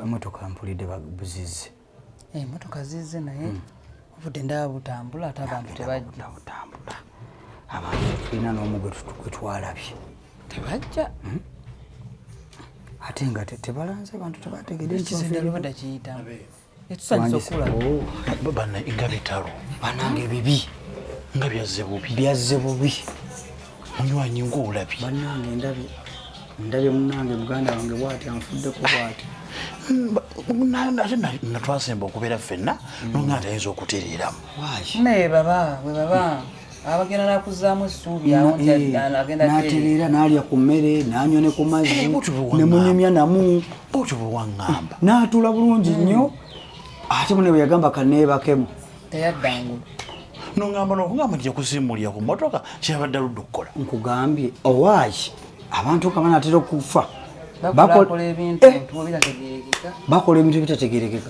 emotoka mpulidde babuzize emotoka eh, zize naye hmm. obudde ndaba butambula ate abantu tebajja butambula abantu tulina n'omu gwe twalabye tebajja hmm? ate nga tebalanze abantu tebategede ekizindalubada kiyitamu bana nga bitalo banange bibi nga byazze bubi byazze bubi munywanyi ngaolabi banange ndabi ndabye munange muganda wange bwati anfuddeko bwati natwasemba okubeera ffenna nonga tayinza okutereeramu naye baba we baba abagenda nakuzaamu essuubi eh, natereera naalya ku mmere nanywa ne ku mazzi eh, nemunyumya namu otyo bwewaŋŋamba naatuula bulungi hmm. nnyo ate mune bwe yagamba kaneebakemu teyaddangulu noŋamba nokugamba nti yakusimbulira ku motoka kyeyabadde aludde okukola nkugambye owaaki abantu kaba natera okufa bakola ebintu eh. bitategerekeka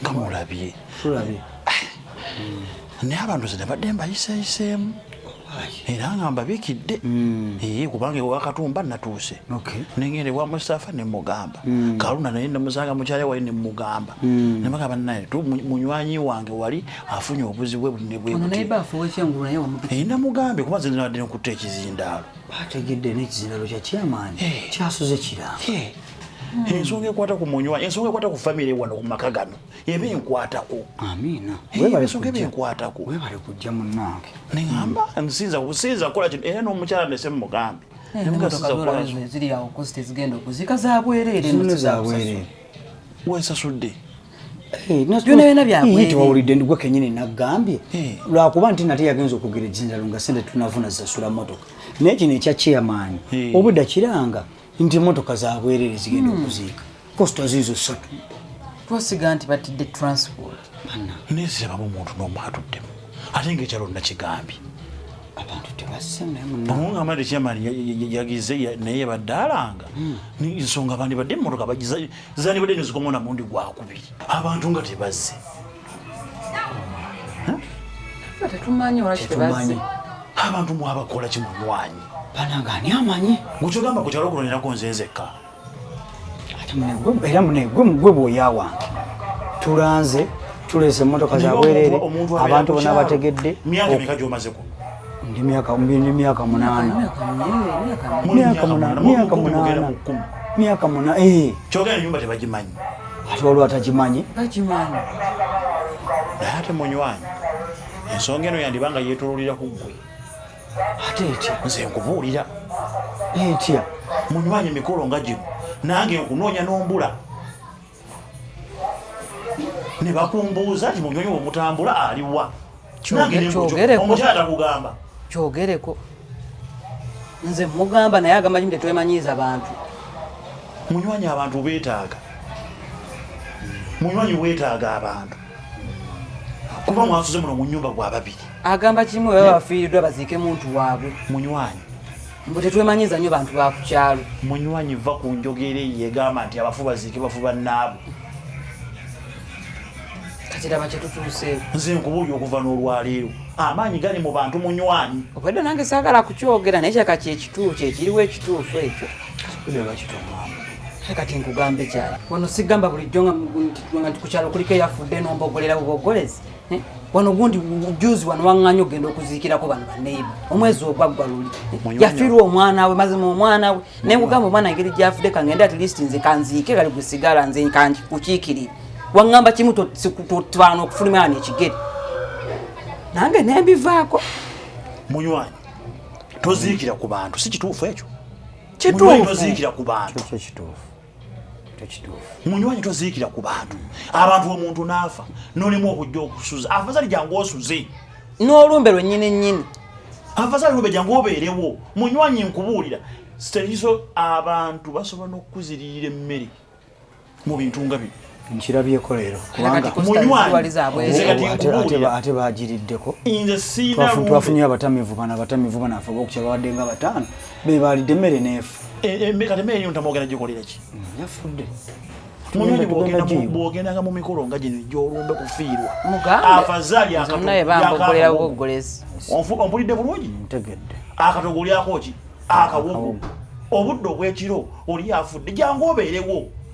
nga mulabye tulabye naye abantu ze nabadde mbayiseyiseemu era nga mbabikidde hmm. ee kubanga ewakatumba natuuse nengenda ewa mustafa nemugamba hmm. kaluna naye nemusanga mukyale wali nemugamba hmm. nemugamba naye munywanyi wange wali afunye obuzibu bwebunebwenamugambye kuba nze nabadde nekutta ekizindaalo bategedde nekizindaalo kyakyamaanyi kyasuze kirango Hmm. ensonga ekwata ku munywa ensonga ekwata ku famire wano ku maka gano eba enkwatako amiinaensonga eba enkwatako webale kujja munange neamba nsinza kusinza kukola kino era n'omukyala nese mumugambe eh, ziri awo kosi tezigenda okuzika zabwereere zabwereere wesasudde eh, tewawulidde ndigwe kenyini nagambye eh. lwakuba nti nate yagenza okugera ejinjalo nga sente tunavuna zasula motoka naye kino ekya chairman obudda kiranga nti emotoka zabwerere zigenda hmm. okuziika kosita ziizo ssatu twasiga nti batidde transport nezirabamu omuntu nomu atuddemu ate nga ekyalo nakigambye abantu tebasemuamugamba nti chairman yagize naye yabadde alanga hmm. nsonga abandi badde emotoka zandibadde nezikomaona mundi gwakubiri abantu nga tebazze tetumanyi abantu mwabakola kimunywanyi banange ani amanyi mukyogamba ku kyalo kuno nirako nze nzekka era munegwe mugwe bwoya wange tulanze tuleese emmotoka zabwerere abantu bona bategedde myaka meka gyomaze kuno ndi myaka ndi myaka munana myaka munana myaka munana myaka munana eh chogera nyumba tebajimanyi ati olwa tajimanyi tajimanyi ate munywanyi ensonga eno yandibanga yetololera ku gwe ate etya nze nkubuulira etya munywanyi mikolo nga gino nange nkunoonya n'ombula ne bakumbuuza nti munyonyi womutambula aliwa omukyala kugamba kyogereko nze mugamba naye agamba kimu tetwemanyiiza bantu munywanyi abantu betaaga munywanyi wetaaga abantu kuba mwasuze muno mu nyumba gwa babiri agamba kimu webabafiiriddwa baziike muntu waabwe munywanyi mbu tetwemanyiza nnyo bantu ba ku kyalo munywanyi va ku njogera eyo egamba nti abafu baziike bafu bannaabwe katiraba kyetutuuseeko nze nkubuulya okuva n'olwaleero amaanyi gali mu bantu munywanyi obwedda nange saagala kukyogera naye kyaka kyekituufu kyekiriwo ekituufu ekyo kati nkugambe kyali wano sigamba bulijjo nga nti ku kyalo kuliko eyafudde nombogolera bubogolezi Eh, wano gundi juzi wano wang'anya okugenda okuziikirako bano baneiba omwezi ogwaggwa luli yafirwa omwana we mazima omwana we naye kugamba omwana engeri gyafudde kangende at least nze kanziike kali gusigala nze kukiikirira waŋŋamba kimu totwana okufulumira wano ekigere nange nembivaako munywanyi toziikira ku bantu si kituufu ekyo kituufu toziikira ku bantu kituufu munywanyi toziikira ku bantu abantu omuntu n'afa nolimu okujja okusuza afazali jangu osuze n'olumbe lwennyini nnyini afazali lumbe jangu obeerewo munywanyi nkubuulira sitekiso abantu basobola n'okukuziririra emmere mu bintu nga bino nkirabyeko leero kubangaate bagiriddeko twafunye abatamivu bana abatamivu bana afe obokukya babadde nga bataano be baalidde emmere neefu yafudde bwogendanga mu mikolo nga gino gyolumbe kufiirwa afazali ompulidde bulungi akatogo olyako ki akawogo obudde obwekiro oli afudde jangu obeerewo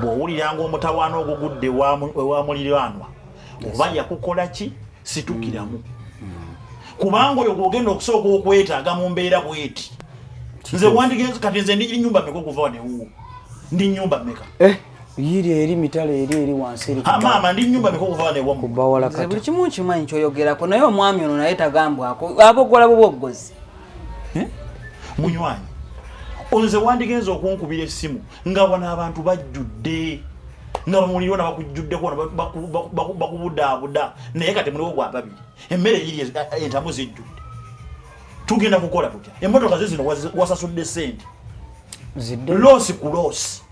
bw'owuliranga omutawaana ogugudde ewa muliraanwa oba yakukola ki situkiramu kubanga oyo gwogenda okusooka okwetaaga mu mbeera bweti nze wandigenzi kati nze ndi nyumba meka okuva wanewuwo ndi nyumba meka eh, yiri eri mitala eri eri wansi eri ah, maama ndi nyumba meka okuva wanewa kubawala kati buli kimu nkimanyi kyoyogerako naye omwami ono naye tagambwako abogola bwo bwoggozi eh? munywanyi onze wandigenza okunkubira essimu nga wano abantu bajjudde nga bamuliro nabakujjuddeko bakubudaabuda naye kati muliwo gwa babiri emmere yiri entamu zijjudde tugenda kukola tutya emotoka ze zino wasasudde sente loosi ku loosi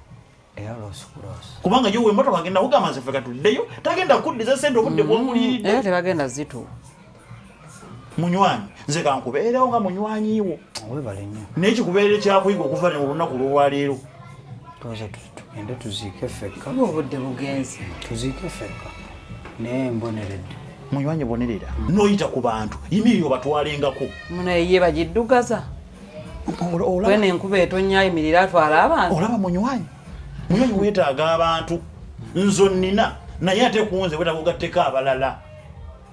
kubanga yo wemotoka agenda kugamba nze ffe katuddeyo tagenda kuddiza sente obudde mm-hmm. bwomuliridde tebagenda zitu munywanyi nze kankubeerewo nga munywanyiwo naye kikubeerere kyakuyiga okuva ne olunaku lwolwaleero tugende tuziike fekka obudde bugenzi tuziike fekka naye mboneredde munywanyi bonerera noyita ku bantu yimirira obatwalengako munaye ye bagiddugaza wena enkuba etonya ayimirira atwala abantu olaba munywanyi munywanyi wetaaga abantu nzo nina naye ate kunze wetaga ogatteko abalala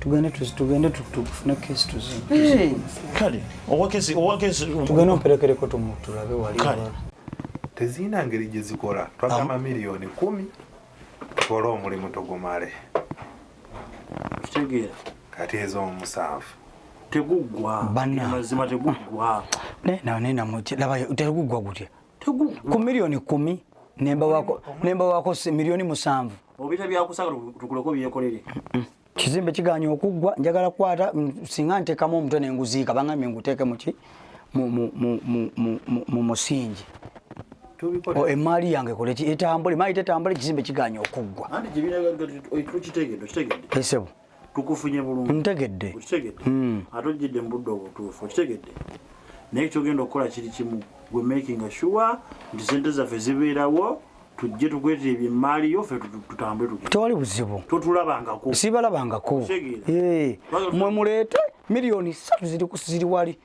tugende tugende tufune kesi tuzikale owakesi owakesi tugende omperekereko tulabe wali tezirina ngeri gye zikola twagamba miliyoni kumi tukole omulimu tugumale kitegeera kati ezo omusanvu teguggwa mazima teguggwa teguggwa gutya ku miliyoni kumi nemba wako miliyoni musanvu obita byakusagala tukuleko byekolere kizimbe kiganye okuggwa njagala kukwata singa ntekamu omutwe nenguziika bangambye nguteeke muki mu musingi oh, emaali yange koleki etambule maali tetambule ekizimbe kiganye okuggwa esebo tukufunye bulungi ntegedde okitegedde hmm. ate ojjidde mu budde obutuufu okitegedde naye kyogenda okukola kiri kimu gwe making sure nti sente zaffe zibeerawo tujje tukwetera ebyemmaali yo fe tutambule tu tewali buzibu totulabangako sibalabangako mwe muleete miliyoni satu ziri wali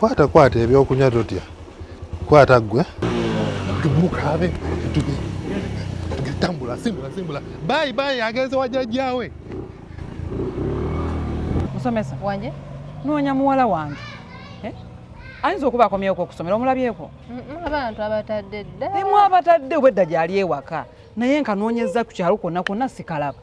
kwata kwata ebyokunywa totya kwata gwe mukabe tambula simbula simbula bayi bayi agenze wajajjawe musomesa wanje noonya muwala wange eh? ayinza okuba akomyewo okusomera omulabyeko abantu abatadde dda emu abatadde obwedda gyali ewaka naye nkanoonyezza ku kyalo kwonna kwonna sikalaba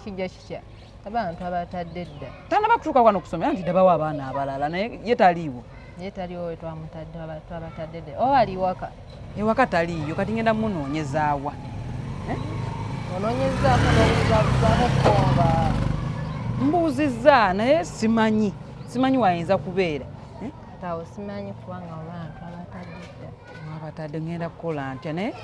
kijja kikya abantu abatadde dda tanaba kutuuka kwano kusomera nti dabawo abaana abalala naye ye taliiwo ye taliwo we twamutadde twabatadde dda oba ali waka ewaka taliiyo kati ngenda munoonyezaawa eh? onoonyezaako nobuzabuzaako komba mbuuzizza naye simanyi simanyi wayinza kubeera eh? tawo simanyi kubanga abantu abatadde dda wabatadde ngenda kukola ntya naye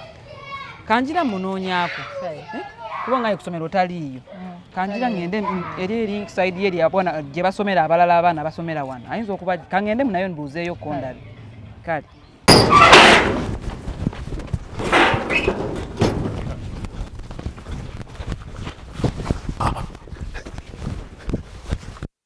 kanjira munoonyaako eh? kuba nga yekusomero taliiyo mm. kanjira ngende eri eri saidi ye lyabwana gye basomera abalala abaana basomera wano ayinza okuba kangende munayo nbuuzeeyo kondabi kale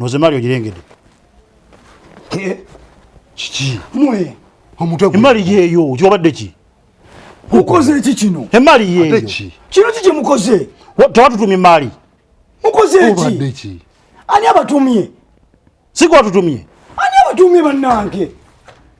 noze mali ogirengede kiki mwe omutwe emali yeyo gyobadde ki mukoze eki kino emali yeyo kino kiki mukoze tewatutumye mali mukoze eki ani abatumye sikwatutumye ani abatumye bannange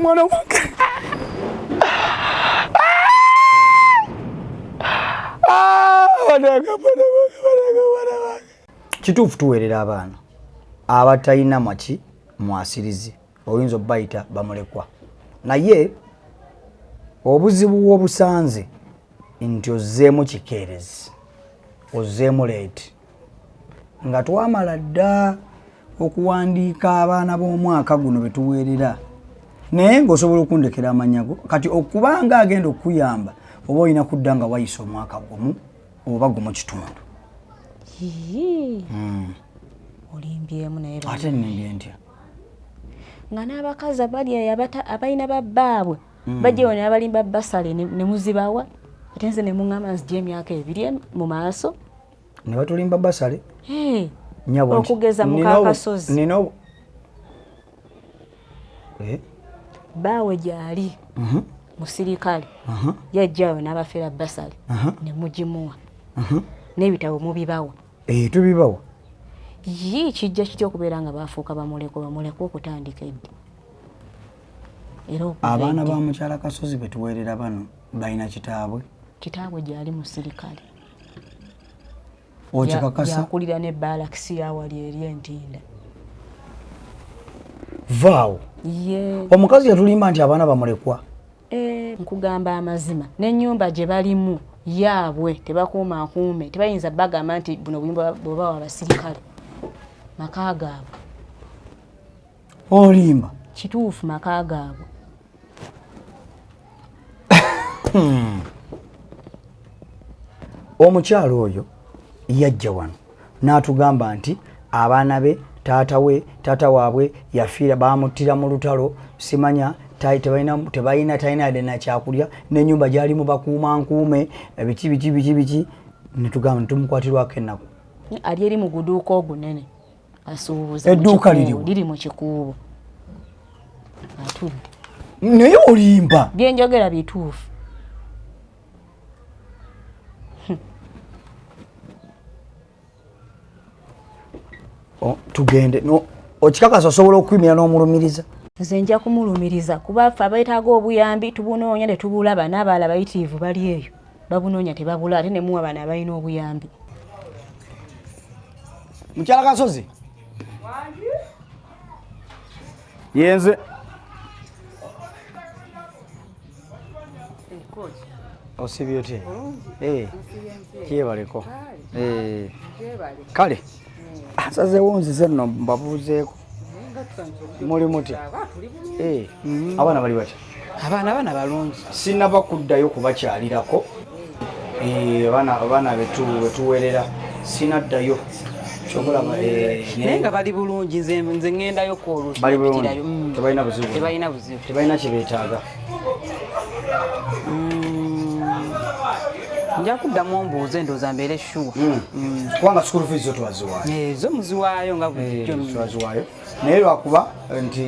mwana wange kituufu tuweerera abaana abatalina maki mwasirizi oyinza obayita bamulekwa naye obuzibu bwobusanze nti ozzeemu kikeerezi ozzeemu leeti nga twamala dda okuwandiika abaana b'omwaka guno betuweerera naye ngaosobola okundekera amanyago kati okubanga agenda okukuyamba oba olina kudda nga wayisa omwaka gumu oba gumu kitundu hmm. olimbyemu naye ate nimbye ntya nga n'abakazi abali eyo abalina babbaabwe hmm. bajja wona abalimba basale ne muzibawa ate nze ne muŋŋamba nzija emyaka ebiri mu maaso ne batulimba basale hey. nyabo okugeza mukakasozi nino eh? baawe gyali uh mhm. -huh. musirikale uh mhm. -huh. yajjayo n'abafera basale uh mhm. -huh. ne mugimuwa uh -huh. n'ebitabo mubibawa eh, tubibawa ye kijja kitya okubeera nga baafuuka bamuleko bamuleko okutandika eddi abaana ba mukyala kasozi betuweerera bano balina kitaabwe kitaabwe gyali musirikale okikakasa yakulira ne balakisi yawali eri entinda vaawo omukazi yatulimba nti abaana bamulekwa eh, nkugamba amazima nenyumba gye balimu yaabwe tebakuuma akuume tebayinza bagamba nti buno buyumba bwebawa abasirikale maka gaabwe olimba kituufu maka gaabwe hmm. omukyalo oyo yajja wano n'atugamba nti abaana be taata we taata waabwe yafiira baamuttira mu lutalo simanya tebalina talina yadde nakyakulya n'enyumba gyali mu bakuuma nkuume biki biki biki biki netugamba ntitumukwatirwako ennaku ali eri mu guduuka ogunene asuubuza edduuka liriwo liri mu kikuubo atudde naye olimba byenjogera bituufu tugende no okikakasa osobola okwimira n'omulumiriza nze nja kumulumiriza kuba ffe abeetaaga obuyambi tubunoonya ne tubulaba n'abaala bayitiivu bali eyo babunoonya tebabula ate nemuwa bano abalina obuyambi mukyala kasozi yenze osibye otya eh, kyebaleko eh. kale asazewo nzize nno mbabuuzeeko muli mutya eh, mm-hmm. abaana bali batya abaana bana balungi sinaba kuddayo kubakyalirako eh, abaana betuwerera sinaddayo eh, naye nga bali bulungi nze ngendayo kwolutbalina mm. buzibu tebalina kyebetaaga nja kuddamu ombuuza endowooza mbeere shuwa hmm. hmm. kubanga school fees zo twaziwaayo eh, zo muziwaayo nga bulijjo eh, twaziwaayo naye lwakuba nti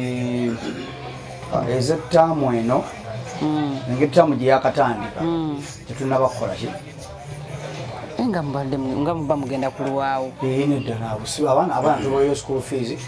ah, ezettaamu eno hmm. engeri ttaamu gye yakatandika tetunaba kukolaki eh, nga muba mugenda kulwawo nedda nabusiba abaana abaana tubayo school fees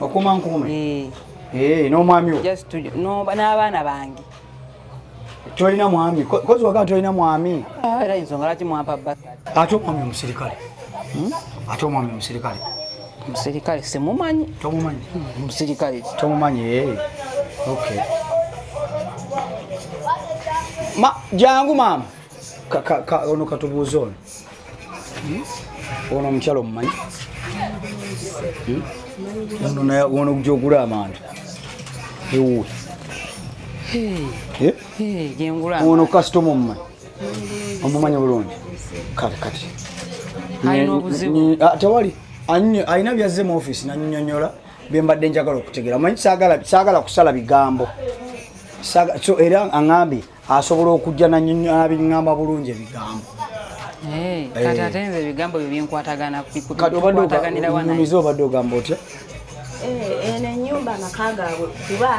okuma nkuume eh. eh, n'omwami n'abaana bange tolina mwami kozi wagaa tolina mwami ah, era ensonga lwaki mwampa basi ate omwami omusirikale hmm? ate omwami omusirikale omusirikale simumanyi tomumanyi hmm, omusirikale tomumanyi eh. okay ma jangu maama ono katubuuza ono ono omukyala omumanyi ono gyogula amanda ewuwe ono kasitoma omumanyi omumanyi bulungi kale kati ah, tewali alina byazze mu ofisi nanyonyola byembadde njagala okutegera manyi sagala kusala bigambo era aŋambye asobola okujja nabiŋamba bulungi ebigambo eh, kati eh. ate nze ebigambo byo byenkwatagana kukwataganirawanamize obadde ogamba otya eh, eno enyumba amaka gaabwe kuba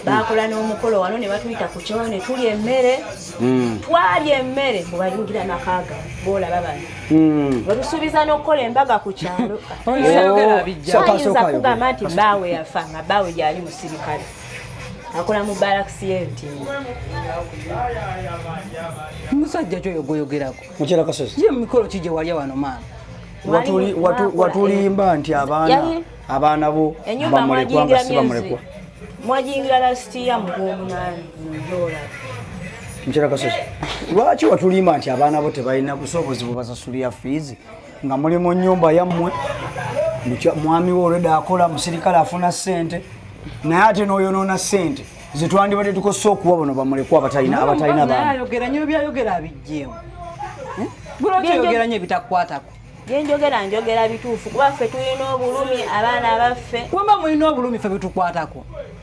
baakola n'omukolo wano ne batuyita ku kyoyo ne tulya emmere hmm. twalya emmere mubayingira nakaaga boolaba bano hmm. wetusuubiza n'okukola embaga ku kyalo oh, ayinza kugamba nti baawe yafa nga baawe gyali musirikale akola mu balakisi y'entindo musajja kyoyo gweyogerako mukyera kasozi ye mumikolo ki gye walya wano maama watulimba nti abaana abaana bo bamulekwa nga si bamulekwa mwajingira lasitiya mugwomunani njola mukyera kasozi lwaki watulimba nti abaana bo tebalina busobozi bubasasulira fiizi nga muli mu nyumba yammwe mwami we olwedde akola musirikale afuna ssente naye ate n'oyonoona ssente zetwandibadde tukozesa okuwa bano bamulekwa abatalina abatalina baayogera nyo byayogera abijjeemu eh? bwolwotoyogera nyo ebitakukwatako byenjogera njogera bituufu kuba ffe tulina obulumi abaana baffe wemba mulina obulumi fe bitukwatako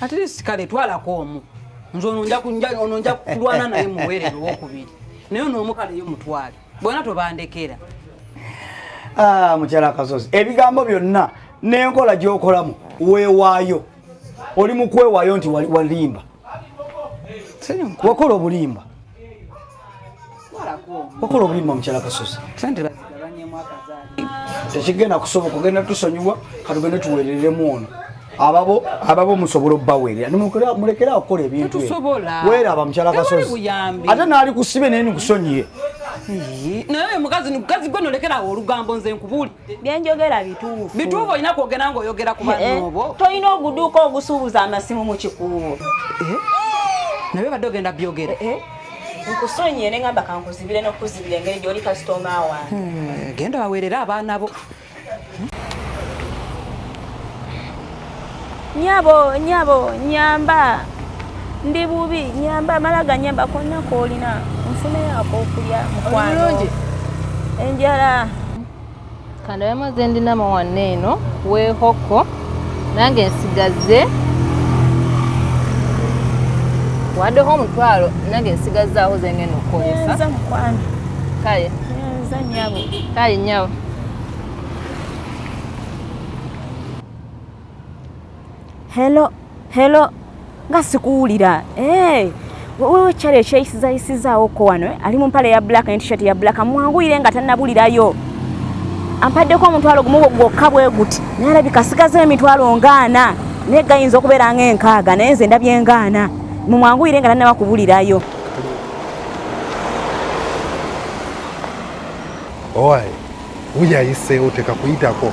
at least kale twalako omu nze ono nja kunja ono nja kulwana naye muwerere wokubiri naye ono omu kale yo mutwale bona tobandekera ah mukyala kasozi ebigambo byonna nenkola gyokolamu weewaayo oli mukwewayo nti walimba wakola obulimba okola obulimba mukyala kasozi sente bazigabanyemu akazaali tekigenda kusoboka ogenda tusonyiwa katugende tuwereremu ono ababo ababo musobola obawerera mulekere akola ebintu weraba mukyala kasozi ate naali kusibe naye nikusonyiye naye mukazi mukazi gwe nolekerawo olugambo nze nkubuli byenjogera bituufu bituufu olina kwogera nga oyogera ku banobo eh, eh, tolina oguduuka ogusuubuza amasimu mu kikuubo eh? naye badde ogenda byogera nkusonyiye ne ngamba kankuzibire n'okuzibira engeri gy'oli kasitoma wange hmm, genda baweerere abaana bo nyabo nyabo nyamba ndi bubi nyamba mala ganyamba konna koolina nfuneyo ak'okulya mukwano enjala kandabe amaze ndina mawanna eno wehoko nange nsigaze wadeho omutwalo nange nsigazaaho zengenda okukozesa kale kale nyabo Hello, hello. Nga sikuwulira. Hey. Eh, wewe chale ekyeyisiza yisiza oko wano eh? ali mu mpale ya black ne t-shirt ya black mwanguyire nga tannabulirayo ampaddeko omutwalo gumu gwokka bwe guti naye alabika asigaza emitwalo ngaana naye gayinza okubeera nga enkaaga naye nze ndabye ngaana mumwanguyire nga tannaba kubulirayo owaye wuyayiseewo tekakuyitako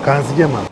kanzijema